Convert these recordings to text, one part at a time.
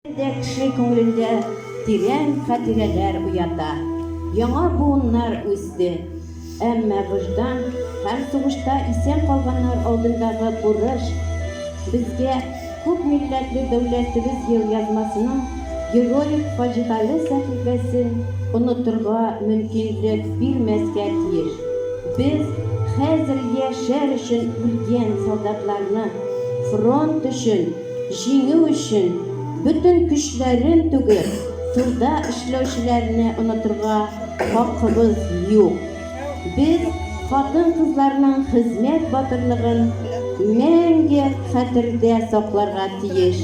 Әле дә кеше күңелендә тирән хатирәләр уята. Яңа буыннар үсте. Әмма вөҗдан һәм сугышта исән калганнар алдындагы бурыч безгә күп милләтле дәүләтебез елъязмасының героик фаҗигале сәхифәсен онытырга мөмкинлек бирмәскә тиеш. Без хәзер яшәр өчен үлгән солдатларны, фронт өчен Җиңү өчен бөтен көчләрен түгеп, турда эшләүчеләрне онытырга хакыбыз юк. Без хатын-кызларның хезмәт батырлыгын мәңге хәтердә сакларга тиеш.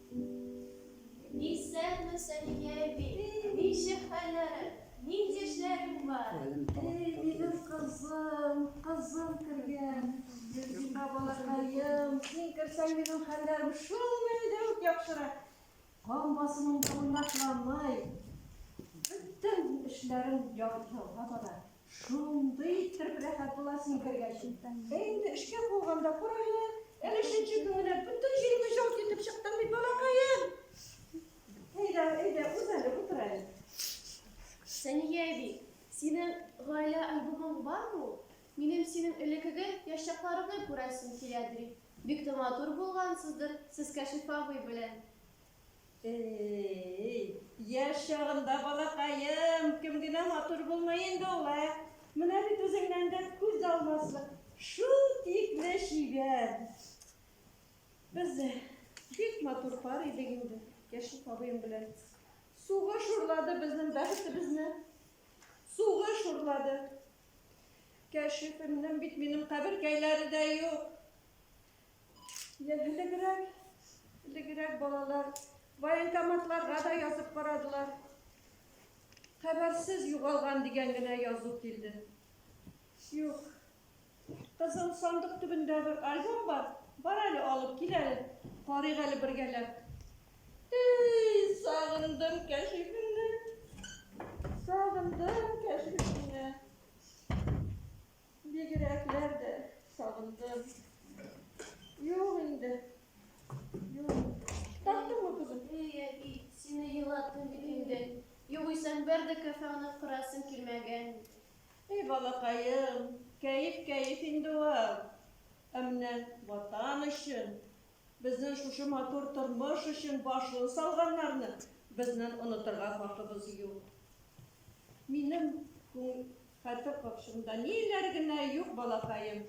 Исәнме, Сәлимә әби. Ничек хәлләрең? Нинди эшләрең бар? Эй, минем кызым, кызым кергән. Юкка балакаем, син керсәң, минем хәлләрем шул мәлдә үк яхшырак. Кан басымым да уйнатламый. Бөтен эшләрем яхшыга бара. Шундый иттереп рәхәт була син кергәч. Ә инде эшкә куылганда карале, әле өченче көн генә бөтен җиреңне җылт итеп чыктың бит, балакаем. Әйдә, әйдә, үз әле, утыр әле. Сәния әби, синең гаилә альбомың бармы ул? Минем синең элеккеге яшь чакларымны күрәсем килә, ди. Бик тә матур булгансыздыр сез Кәшиф абый белән. Э-э-й, яшь чагында, балакаем, кем генә матур булмый инде ул, ә? Менә бит үзеңнән дә күз алмаслык, шул тикле чибәр! Без бик матур пар идек инде, Яшүк абыем белән. Сугыш урлады безнең бәхетебезне. Сугыш урлады. Кәшифемнең бит минем каберкәйләре дә юк. Элегрәк, элегрәк балалар военкоматларга да язып карадылар. Хәбәрсез югалган дигән генә язу килде. Юк. Кызыл сандык төбендә бер альбом бар. Бар әле алып кил әле. Карыйк әле бергәләп. Эй, сагындым кәшифемне. Сагындым кәшифемне. Бигрәкләр дә сагындым. Юк инде. Юк. Таптыңмы, кызым? Эй, әби, сине елаттым бит инде. Югыйсәң бер дә кафе аны кырасым килмәгән. Эй, балакаем, кәеф кәеф инде ул. Ә менә ватан өчен, безнең шушы матур тормыш өчен башын салганнарны безнең онытырга хакыбыз юк. Минем күңел хәтер капчыгымда ниләр генә юк, балакаем.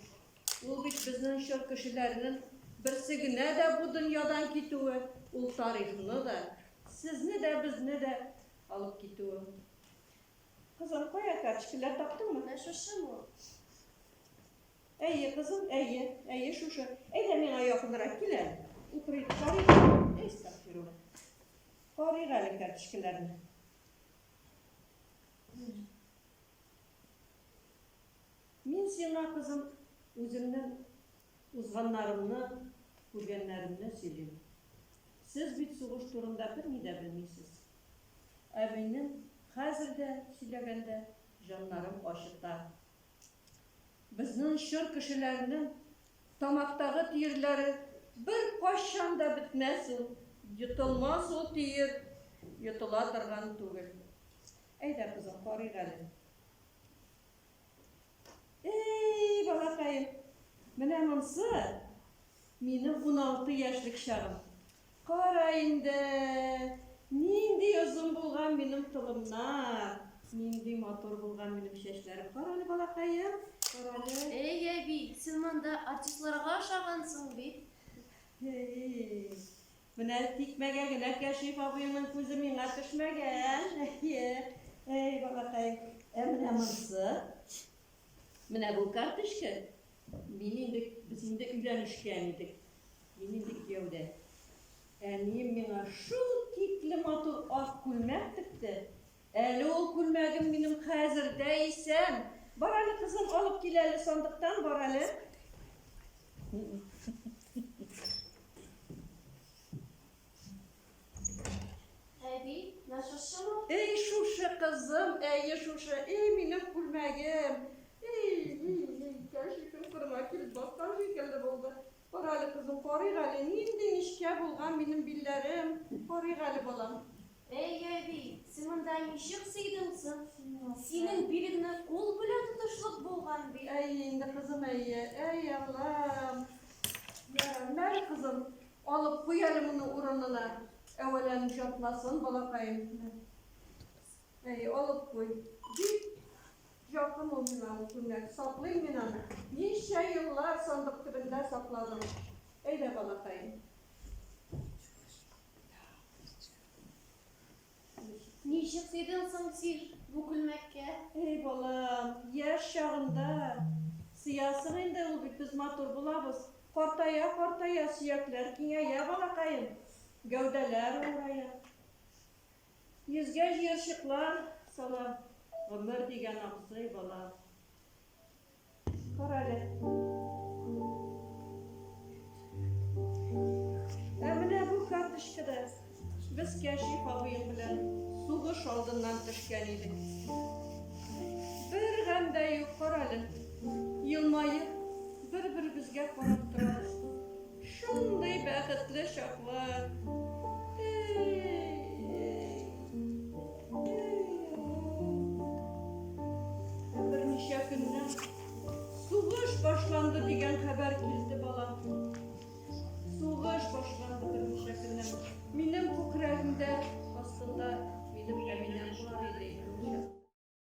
Ул бит безнең чор кешеләренең берсе генә дә бу дөньядан китүе, ул тарихны да, сезне дә, безне дә алып китүе. Кызым, кая карточкалар таптыңмы? Ә шушымы ул? Әйе, кызым, әйе, әйе, шушы. Әйдә миңа якынрак кил әле. Утырыйк, карыйк. Әй, стаффирулла. Карыйк әле карточкаларны. Мин сиңа, кызым, үземнең узганнарымны, күргәннәремне сөйлим. Сез бит сугыш турында берни дә белмисез. Ә минем хәзер дә сөйләгәндә җаннарым ачыта, Безнең чор кешеләренең тамактагы тиерләре беркайчан да бетмәс ул, йотылмас ул тиер, йотыла торган түгел. Әйдә, кызым, карыйк әле. Эй, балакаем, менә монсы Минем уналты яшьлек чагым. Кара инде, нинди озын булган минем толымнар, нинди матур булган минем чәчләрем. Кара әле, балакаем, кара әле. Әй, әби, син монда артистларга ошагансың бит. Әй, менә тикмәгә генә Кәшиф абыеңның күзе миңа төшмәгән. Әй, балакаем. Ә менә монсы? Менә бу карточка. Мин инде, без инде өйләнешкән идек. Мин инде кияүдә. Әнием миңа шул тикле матур ак күлмәк текте. Әле ул күлмәгем минем хәзер дә исән. Бар әле, кызым, алып кил әле сандыктан, бар әле. Әби, менә шушымы? Эй, шушы кызым, әйе шушы, эй, минем күлмәгем. Эй, эй, эй, кәшифем кырыма килеп баскан шикелле булды. Кара әле, кызым, карыйк әле, нинди нечкә булган минем билләрем. Карыйк әле, балам. Эй, әби, син монда ничек сыйдың соң? Синең билеңне кул белән тотышлык булган бит. Әйе инде, кызым, әйе. Әй, Аллам. Ярар, мәр, кызым, Алып куй әле моны урынына, әвәлән җатмасын балакаем, димәк. Әйе, алып куй. Бик якын ул миңа ул күлмәк, саклыйм мин аны. Ничә еллар сандык төбендә сакладым. Әйдә, балакаем. Ничек тидең соң син бу күлмәккә? Эй, балам, яшь чагында сөясең инде, ул бит без матур булабыз. Картая-картая сөякләр киңәя, балакаем, гәүдәләр авырая. Йөзгә җыерчыклар сала гомер дигән абзый, балам. Кара әле. Ә менә бу карточкада без Кәшиф абыем белән сугыш алдыннан төшкән идек. Бер гам да юк, кара әле. Елмаеп, бер-беребезгә карап торабыз. Шундый бәхетле чаклар. Берничә көннән сугыш башланды дигән хәбәр килде бала. Сугыш башланды берничә көннән. Минем күкрәгемдә астында минем әбинәм бар иде.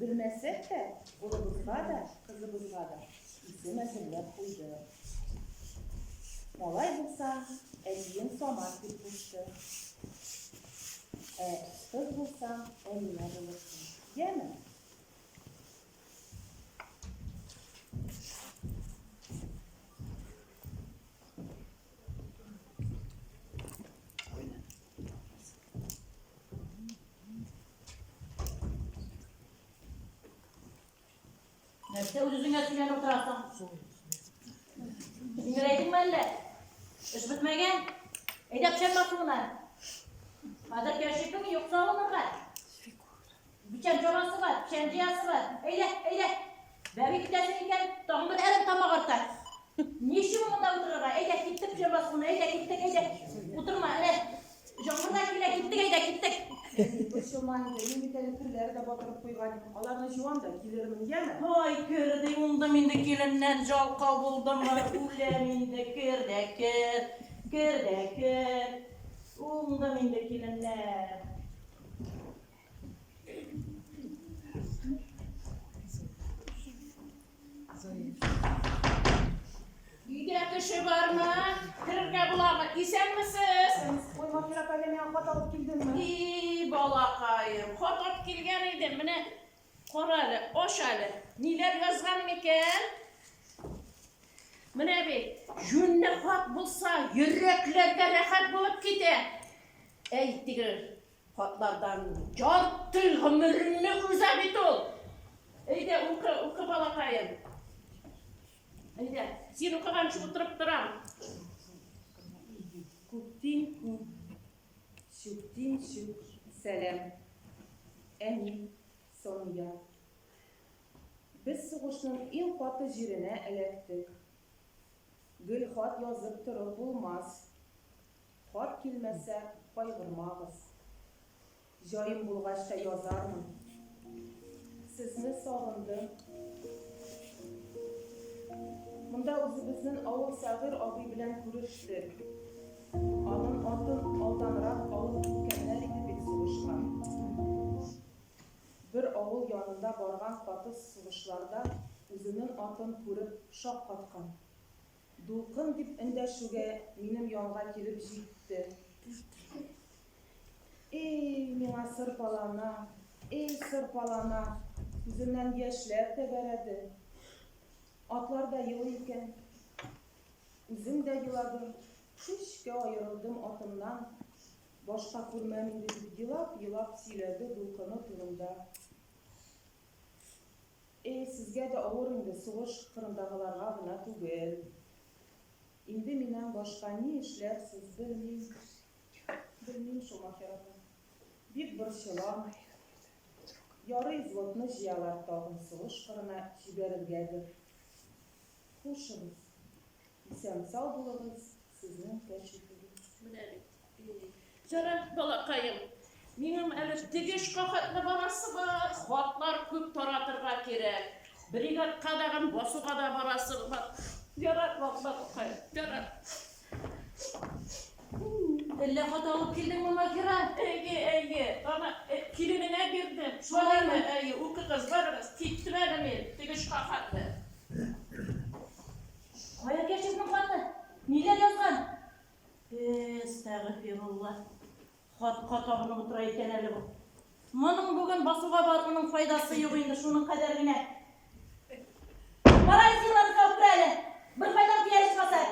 Белмәсәк тә, улыбызга да, кызыбызга да исем әзерләп куйдык. Малай булса, әтием Самат дип кушты. Ә кыз булса, Әминә булырсың. Яме? Thank you. Нәрсә үзеңә сөйләнеп утырасың? Җиңеләйдеңме әллә? Эш бетмәгән? Әйдә печән басуына. Хәзер кәшифең юкса алынырга. Печән чабасы бар, печән җыясы бар. Әйдә, әйдә. Бәби китәсең икән, тагын бер әрем тамак арта. Ни өчен монда утырырга? Әйдә, киттек печән басуына, әйдә, киттек, әйдә. Утырма, әнә. Җаңгыр да килә, киттек, әйдә, киттек. Борчылма инде, мин бит әле керләр дә батырып куйган идем. Аларны җуам да килермен, яме? Ай, кер ди, уңдым инде, киленнән жалкау булдымы, үләм инде, кер дә кер, кер дә кер. Уңдым инде, киленнән. Өйдә кеше бармы? Керергә буламы? Исәнмесез? Ой, Махир апа, әллә миңа хат алып килдеңме? И, балакаем, хат алып килгән идем. Менә кара әле, аш әле. Ниләр язган микән? Менә бит, җүнле хат булса, йөрәкләргә рәхәт булып китә. Әйтегез, Хатлардан ярты гомереңне өзә бит ул! Әйдә, укы, укы, балакаем. Әйдә, син укыганчы утырып торам. Күктин күк, сүктин сүк, сәлам. Әни, Сания. Без сугышның иң каты җиренә эләктек. Гел хат язып торып булмас. Хат килмәсә, кайгырмагыз. Җаем булгач та язармын. Сезне сагындым. Монда үзебезнен авыл Сәгыйр абый белән күрештек. Анын атын алданрак алып киткәннәр иде бит сугышка. Бер авыл янында барган катыс сугышларда үзенен атын күреп шаккаткан. Дулкын дип эндәшүгә минем янга килеп җитте. Эй, миңа сырпалана, эй, сырпалана, күзеннән яшьләр тәгәрәде. Атлар да елый икән. Үзем дә еладым, көчкә аерылдым атымнан. Башка күрмәм инде, дип елап-елап сөйләде дулкыны турында. Э, сезгә дә авыр инде, сугыш кырындагыларга гына түгел. Инде миннән башка ни эшләрсез, белмим. Белмим шул, ахирәтем. Бик борчылам. Ярый, взводны җыялар тагын сугыш кырына җибәрергәдер. Хушыгыз. Исән-сау булыгыз, сезнең кәчетегез. Менә бит. Ярар, балакаем. Минем әле теге шкахатьне барасы бар. Хатлар күп таратырга кирәк. Бригадка дагын басуга да барасы бар. Ярар, балакаем. Ярар. Әллә хат алып килдеңме, Маһира? Әйе, әйе. Аны э, киленеңә бирдем. Шулаймы? Әйе, укыгыз, барыгыз. Киттем әле мин теге шкахатьне. Кая Кәшифнең хаты? Ниләр язган? Әстәгыфирулла. Хатка табынып утыра икән әле бу. Моның бүген басуга баруның файдасы юк инде, шуның кадәр генә. Барай силаны табып әле. Бер кайдан пиарис басар.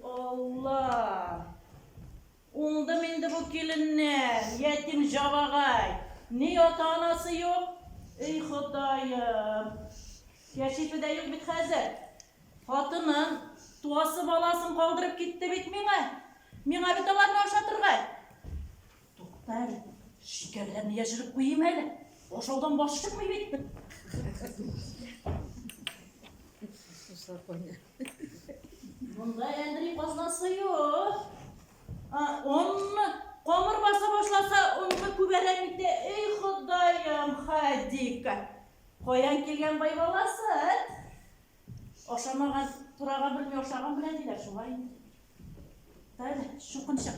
Алла. Уңдым инде бу киленнән, ятим җабагай. Ни ата-анасы юк? Эй Ходаем! Кәшифе дә юк бит хәзер. Хатынын, туасы баласын калдырып китте бит миңа. Миңа бит аларны ашатырга. Тукта әле, шикәрләрне яшереп куйыйм әле. Ашаудан баш чыкмый бит. Суслар кайнар. Монда әндри казнасы юк. Онны камыр баса башласа, онны күбәрәк итә. Эй, Ходаем, Хадика. Каян килгән бай баласы? Ашамаган, турага белми ашаган белән диләр шулай. Тәле, шукынчык.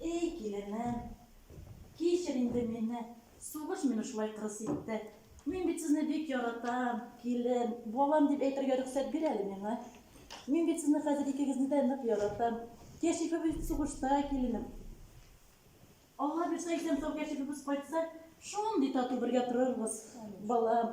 Эй, киленем, кичер инде мине, сугыш мине шулай кырыс итте. Мин бит сезне бик яратам, килен, балам дип әйтергә рөхсәт бир әле миңа. Мин бит сезне хәзер икегезне дә нык яратам. Кәшифебез сугышта, киленем. Алла бирсә, исән сау кәшифебез кайтса, шундый тату бергә торырбыз, балам.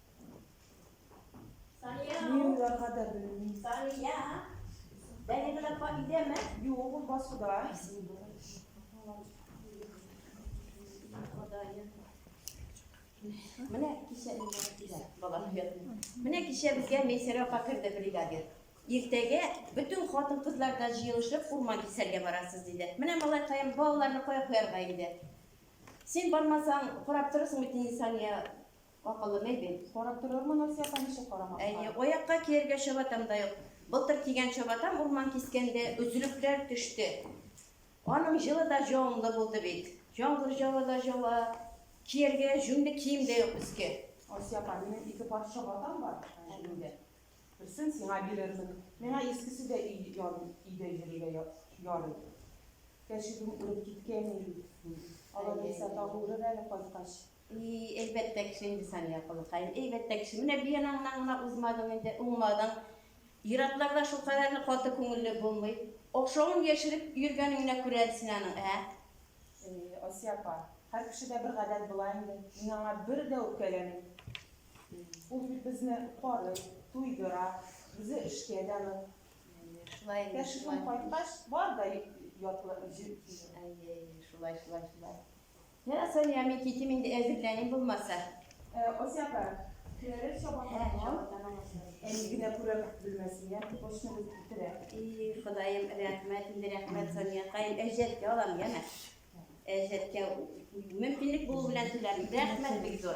Менә кичә Менә кичә безгә Мейсәр апа керде бригадир. Иртәгә бөтен хатын-кызлар да җыелышып урман кисәргә барасыз диде. Менә малай каем балаларны кая куярга инде? Син бармасаң, карап торасың бит инде Сания Акыллы бәйбек, карап торырмын Асия апа ничек карамаска. Әйе, аякка кияргә чабатам да юк. Былтыр кигән чабатам урман кискәндә өзелекләр төште. Аның җылы да җанлы булды бит. Яңгыр җылы да җава, кияргә җүнле кием дә юк өскә. Асия апа, минем ике пар чабатам бар җүнле. Берсен сиңа бирермен. Миңа искесе дә өйдә йөрергә ярый. Кәшебем үлеп киткән иде бит. Алар булса тагы үлер әле кайткач. И, әйбәттә кеше инде Сания апалакаем, әйбәттә кеше. Менә биянаңнан гына узмадың инде, уңмадың. Ир-атлар да шул кадәрле каты күңелле булмый. Охшавын яшереп йөргәнеңне күрә әле син аның, ә? Э, Асия апа, һәр кешедә бер гадәт була инде. Мин аңа бер дә үпкәләмим. Ул бит безне карый, туйдыра, үзе эшкә дә нык. Әйе, шулай инде, Кәшифем шулай. кайткач, бар да ятлы җир. Әйе, әйе, шулай, шулай, шулай. Йә, Сания, мин китим инде, әзерләним булмаса. Э, Ася апа, керерез чабатанга. Әни генә күрә белмәсен, я, почны бүлеп китерә. И, Ходаем, рәхмәт, инде рәхмәт, Сания, кайын, әҗәткә алам, яме. Әҗәткә, мөмкинлек булу белән түләрмен. Рәхмәт, бик зур.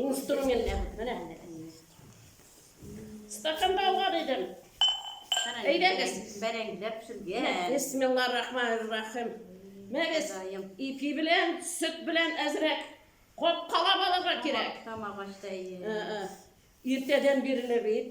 Инструмент әбү, менә менә. Стаканда алган идем. Әйдәгез. Бәрәңгеләп пешергән. Бисмиллаһ рахманир рахим. Мәгез ипи белән, сөт белән әзрәк капкалап алырга кирәк. Тамак ачты. Иртәдән бирле бит.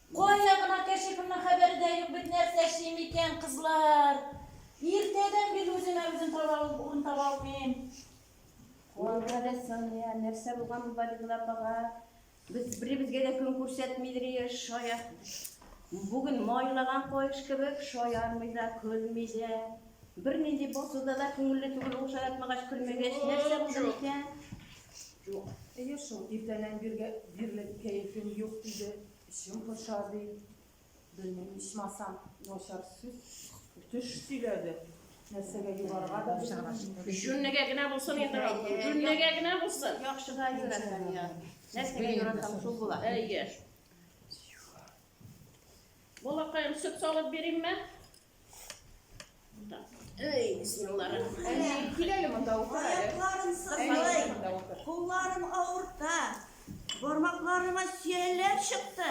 Кая гына керче кемнең хәбәре дә юк бит нәрсә эшлим икән кызлар иртәдән бил үземә үзем таба урын таба алмыйм. Куанга да Сания, нәрсә булган бу Балигул апага? Без беребезгә дә көн күрсәтмидер ие, шая. Бүген майлаган каеш кебек, шаярмый да, көлми дә. Бернинди басуда да күңелле түгел ул шаяртмагач, көлмәгәч, нәрсә булды микән? Юк, әйе шул, иртәннән биргә бирле кәефем юк, диде. Эчем поша, ди. Белмим, ичмасам, начар сүз, төш сөйләде. Нәрсәгә югарга да белмим. Җүннегә генә булсын инде, Рафа, җүннегә генә булсын. Яхшыга юрәтәм я. Нәрсәгә юрәтәм, шул була. Әйе. Балакаем, сөт салып бирим мә? Эй, бисмиллахиррахманиррахим. Кил әле монда утыр әле. Аякларым сызлый, кулларым авырта, бармакларыма сөялләр чыкты.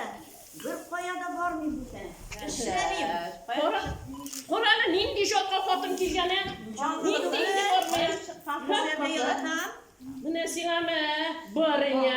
Бер кая да бармыйм бүтән. Эшләмим. Кара, кара әле нинди җатка хатын килгәне. Нинди инде бармый. Менә сиңа мә, барыня.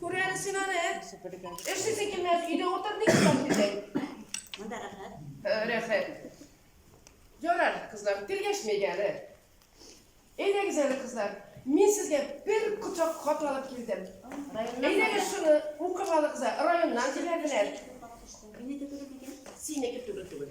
Күрәле син аны. Эшсез икеннән өйдә утыр ник икән дидәй. Монда рәхәт. Рәхәт. Ярар, кызлар, тиргәшмәйк әле. Әйдәгез әле, кызлар. Мин сезгә бер кочак хат алып килдем. Әйдәгез шуны укып алыгыз. Районнан җибәрделәр. Минеке түгел микән? Синеке түгел түгел.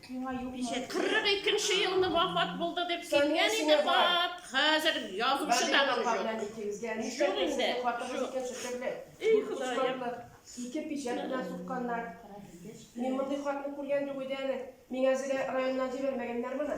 Ничә? 42 нче елны вафат булды дип килгән иде хат. Хәзер язучы да бер җүк. Җүк инде. Эй, Ходаем. Ике пичәт белән сукканнар. Мин мондый хатны күргән юк иде әле. Миңа Зилә районыннан җибәрмәгәннәр моны.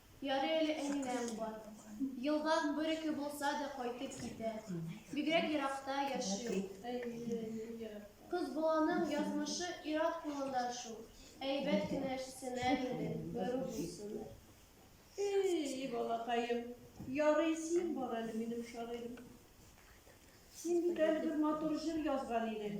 Ярый әле әнинәң бар. Елга бер-ике булса да кайтып китә. Бигрәк еракта яши ул. Кыз баланың язмышы ир-ат кулында шул. Әйбәт кенә эшлсеннәр иде, берүк булсыннар. И-и, балакаем, ярый син бар әле, минем шагыйрем. Син бит әле бер матур җыр язган идең.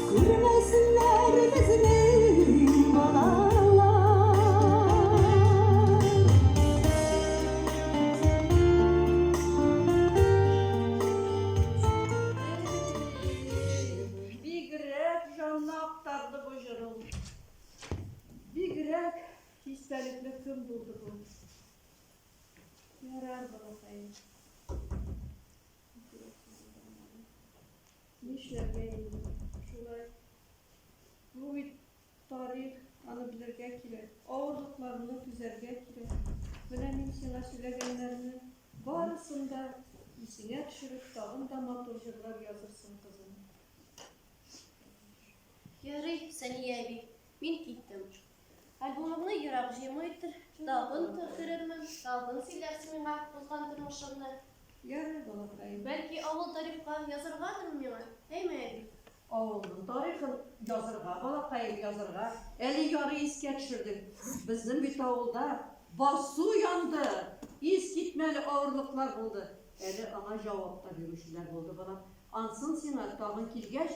Күрмәсеннәр безнең балалар. Бигрәк җанны актарды бу җырың. Бигрәк истәлекле көн булды бу. Ярар, балакаем. Нишләргә инде шулай? Бу бит тарих, аны белергә кирәк, авырлыкларны түзәргә кирәк. Менә мин сиңа сөйләгәннәрне барысын да исеңә төшереп, тагын да матур җырлар язырсың, кызым. Ярый, Сания әби, мин киттем. Альбомымны ерак җыймыйдыр, тагын керермен, тагын сөйләрсең миңа узган тормышыңны. Ярый, балакаем. Бәлки, авыл тарихка языргадыр миңа, әйме, әби? Авылның тарихын язырга, балакаем, язырга. Әле ярый искә төшердең. Безнең бит авылда басу янды, искитмәле авырлыклар булды. Әле аңа җавап та бирүчеләр булды, балам. Ансын сиңа тагын килгәч,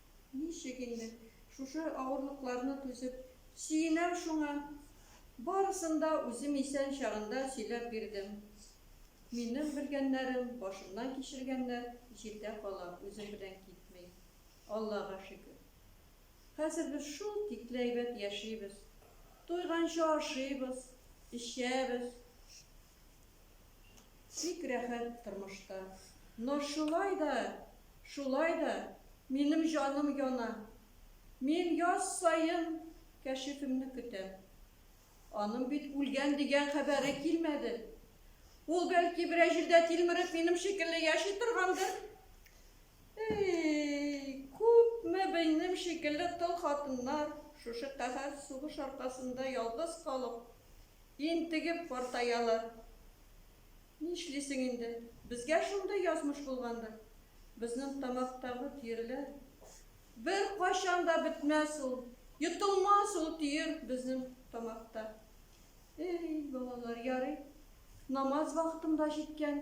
Ничек инде шушы авырлыкларны түзеп, сөенәм шуңа. Барысын да үзем исән чагында сөйләп бирдем. Минем белгәннәрем, башымнан кичергәннәр җирдә кала, үзем белән китми. Аллага шөкер. Хәзер без шул тикле әйбәт яшибез. Туйганчы ашыйбыз, эчәбез. Бик рәхәт тормышта. Но шулай да, шулай да минем җаным яна. Мин яз саен Кәшифемне көтәм. Аның бит үлгән дигән хәбәре килмәде. Ул, бәлки, берәр җирдә тилмереп, минем шикелле яши торгандыр. Эй, күпме минем шикелле тол хатыннар шушы каһәр сугыш аркасында ялгыз калып, Интегеп картаялар. Нишлисең инде, безгә шундый язмыш булгандыр. Безнең тамактагы төерләр беркайчан да бетмәс ул, йотылмас ул төер безнең тамакта. Эй, балалар, ярый, намаз вакытым да җиткән.